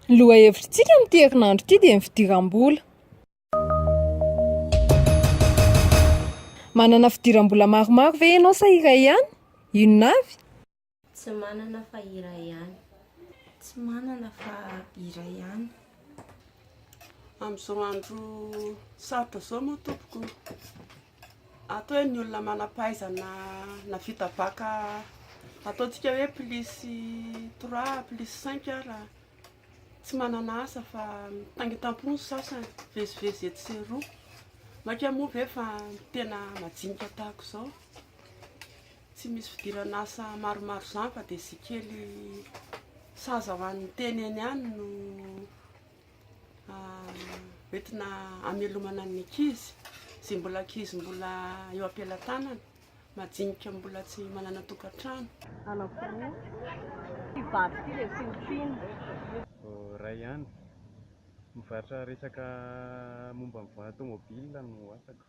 Lohahevitrintsika amin'ity herinandro ity dia ny fidiram-bola. Manana fidiram-bola maromaro ve ianao sa iray ihany? Inona avy? Tsy manana fa iray ihany. Tsy manana fa iray ihany. Amin'izao andro sarotra izao moa tompoko, ato hoe ny olona manam-pahaizana nahavita baka ataontsika hoe plus trois, plus cinq ara, tsy manana asa fa mitangitam-po ny sasany, mivezivezy etsy sy eroa. Maika moa ve fa tena majinika tahaka izao? Tsy misy fidirana asa maromaro izany fa dia izay kely saza ho an'ny tena eny ihany no entina amelomana ny ankizy, izay mbola ankizy mbola eo am-pelatanana, majinika mbola tsy manana tokantrano. Anako roa, ity vady ity dia tsy nitiana. Iray ihany. Mivarotra resaka momba ny volant-tomobile no asako.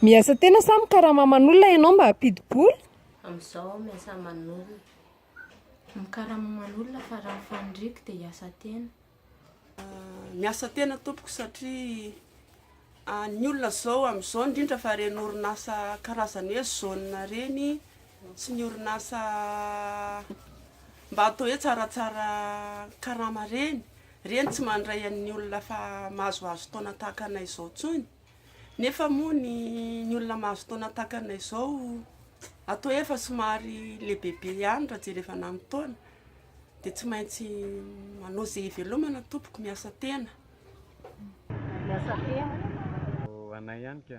Miasa tena sa mikarama aman'olona ianao mba hampidi-bola? Amin'izao aho miasa aman'olona. Mikarama aman'olona fa raha ny faniriako dia hiasa tena. Miasa tena tompoko satria ny olona izao amin'izao indrindra fa ireny orinasa karazany hoe zone ireny, tsy ny orinasa mba atao hoe tsaratsara karama reny, reny tsy mandray an'ny olona fa mahazoazo taona tahaka anay izao tsony, nefa moa ny ny olona mahazo taona tahaka anay izao atao hoe efa somary lehibebe ihany raha jerevana amin'ny taona dia tsy maintsy manao izay hivelomana tompoko, miasa tena. Miasa tena. Ho anay ihany ka.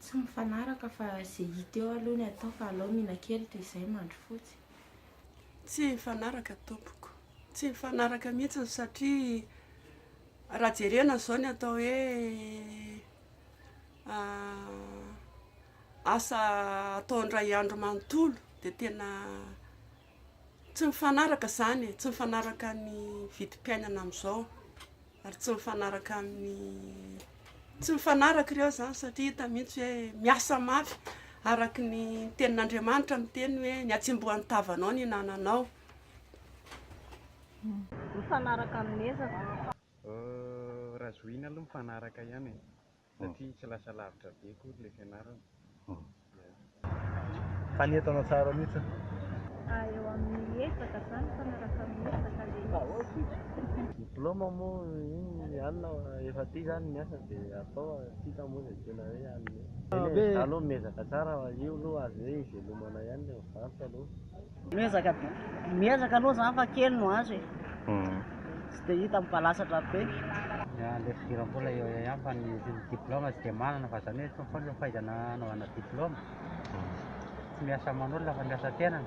Tsy mifanaraka fa ze hita eo aloha ny atao fa alao mina kely toy izay mandrofotsy. Tsy mifanaraka tompoko. Tsy mifanaraka mihitsy satria raha jerena izao ny atao hoe asa atao indray andro manontolo dia tena tsy mifanaraka izany e, tsy mifanaraka ny vidim-piainana amin'izao. ary tsy mifanaraka amin'ny tsy mifanaraka ireo izany satria hita mihitsy hoe miasa mafy araka ny tenin'Andriamanitra miteny hoe ny atsembohan'ny tavanao ny nananao mifanaraka amin'ny ezako raha zohiana aloha mifanaraka ihany e satria tsy lasa lavitra be akory ilay fianarana. Fa ny entana tsara mihitsy an! Ah, eo amin'ny ezaka izany, mifanaraka amin'ny ezaka ilay izy. Diploma moa iny ihany efa aty izany ny asa dia atao a! Tsy hita moa izay tena hoe hanome. Eny e, izaho aloha miezaka tsara fa io aloha azo hoe hivelomana ihany ilay mivarotra aloha. Miezaka be, miezaka aloha zany fa kely no azo e, tsy dia hita mibalasatra be. Miala eto idiran'ny mbola eo eo ihany fa ny diploma tsy dia manana fa zany hoe tsy foana fahaizana anaovana diploma, tsy miasa aman'olona fa miasa tenany.